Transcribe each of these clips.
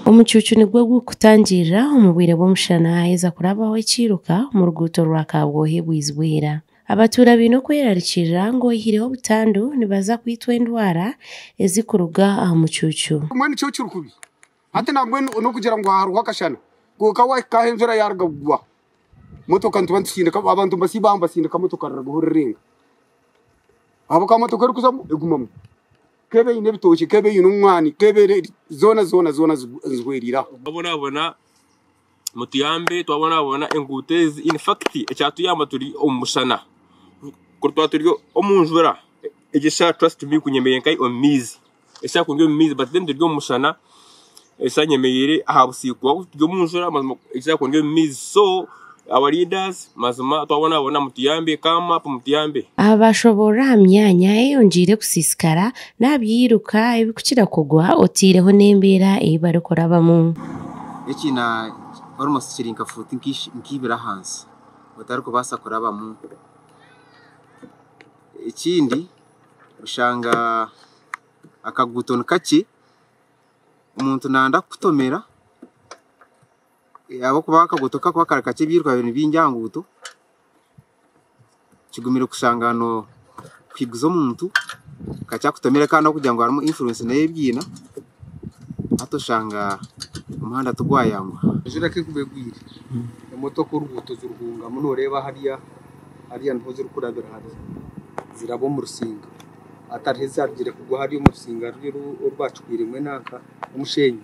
Omucuucu nigwo gurikutangirira omu bwire bw'omushana haaheza kurabaho ekiiruka omu ruguuto rwa kaabwohe bwizi bwira. Abatuura baine okwerarikirira ngu oyihireho obutandu nibaza kwitwa endwara ezirikuruga aha mucuucu. Hati nabwe nokugira ngu hariho akashana kwonka wahika ahu enjura yaruga kugwa motoka nituba nitusindika abantu nibasiiba aha nibasindika motoka rirabaho rirenga ahabw'okuba motoka erikuzamu egumamu ku eba eine ebitookye ku eba eine omwani ku eba eri zoona zoona zoona zihwerire aho. mutuyambe twabonabona enguuto ezi infakiti ekyatuyamba turi omu mushana kwonka twaba turi omu njura egi eshaaha trust me kunyemerera nka omu maizi eshaaha kuri omu maizi bati mbwenu turi omu mushana eshaaha nyemereire aha busiikwa turi omu njura mazima eshaaha kuri omu maizi so our leaders. Mazima twabonabona mutuyambe ka map mutuyambe. Abashoborora aha myanya eyongiire kusisikara n'aha by'eiruka ebikukira kugwa oteireho n'embeera ei barikurabamu. Ekiina almost kiri nka fuuti nka ibiri ahansi otarikubaasa kurabamu. Ekindi oshanga akaguuto nikakye omuntu nanda kukutomera. ahabw'okuba akaguuto kakuba kari kakye ebyiruka biri byingi aha nguuto kigumire kushanga no kuhiguza omuntu kakya kutomire kandi okugira ngu harimu insurance nayo ebyina hati oshanga omuhanda tigwayanguha. Enjura ku ekuba egwire emotoka oruguuto zirurungamu noreeba hariya hariya niho ziri kurabira hare ziraba omu rusinga hati hariho ezarugire kugwa hariya omu rusinga oru bakigwiremu enanka omushenyi.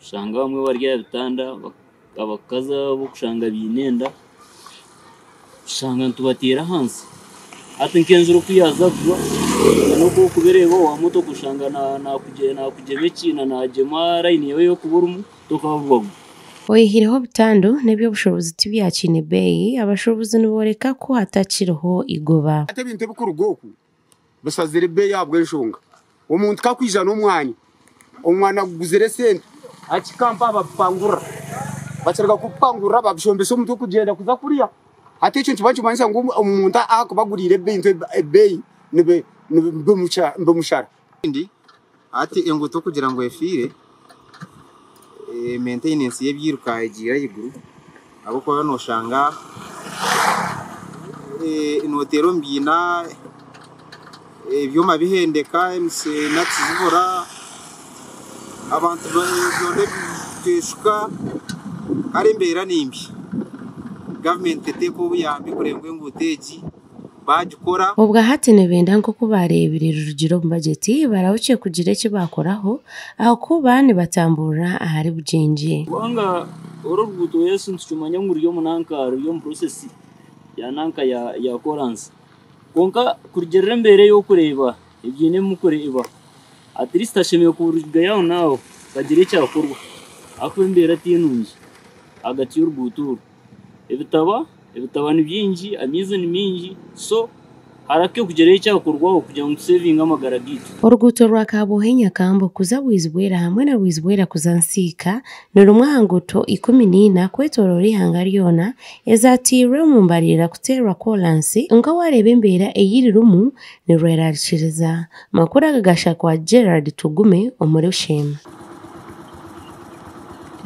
Oshanga abamwe bari aha bitanda abakazi abo oshanga baine enda oshanga nitubateera ahansi hati nk'enjura ku yaaza kugwa n'oku orikuba oreeba owa motooka oshanga naakugyema ekiina naagyema layini yaawe ei orikuba orimu tokaabugwabugwa. Oyihireho obutandu n'eby'obushobozi tibyakiine beeyi, abashuubuzi nibooreka ku hatakiriho eigoba. Hati ebintu ebirikuruga oku Bushazire beeyi ahabw'enshonga omuntu ka akwija n'omwani, omwani aguguzire esente, hati Kampala babipangurira. Bakiruga kubipangurira babishombesa omutwe kugyenda kuza kurya. Hati ekyo nikiba nikimanyisa ngu omuntu ahakuba aguriire ebintu ebeeyi nibimushara. Ekindi, hati enguuto kugira ngu efiire, mentenensi y'ebiiruka egiire ahaiguru ahabw'okuba nooshanga nooteera omu biina, ebyoma bihendeka, nakisi zibura, abantu nibeteshuka, kare embeera ni mbi. Gavumenti teteeka obuyambi kureeba ngu enguuto egi baagikora. Obwa hati nibenda nk'oku baareebire Rurugire omu bagyeti barahukye kugira eki baakoraho ahakuba nibatamburira ahari bugyengye. Kubanga oru oruguuto Yesu nitukimanya ngu ruri omu nanka ruri omu process ya nanka ya ya koraansi. Kwonka kurugirira embeera ey'okureeba ebyine mukureeba at least hashemereire kuba orugaiha aho naaho hakagira ekyakorwa ahakuba embeera ti nungi ahagati y'oruguuto oru. Ebitaba ebitaba ni byingi amaizi ni mingi so harakye kugirayo ekyakorwaho kugira ngu tusevinge amagara gaitu. Oruguuto rwa Kabwohe Nyakambo kuza Bwizibwera hamwe na Bwizibwera kuza Nsiika ni rumwe aha nguuto ikumi na ina kwetoroora eihanga ryona ezatairwe omu mbarira kuteerwa kolansi kwonka waareeba embeera ei ririmu nirwerarikiriza. Amakuru aga gashakwa Gerald Tugume omuri Busheema.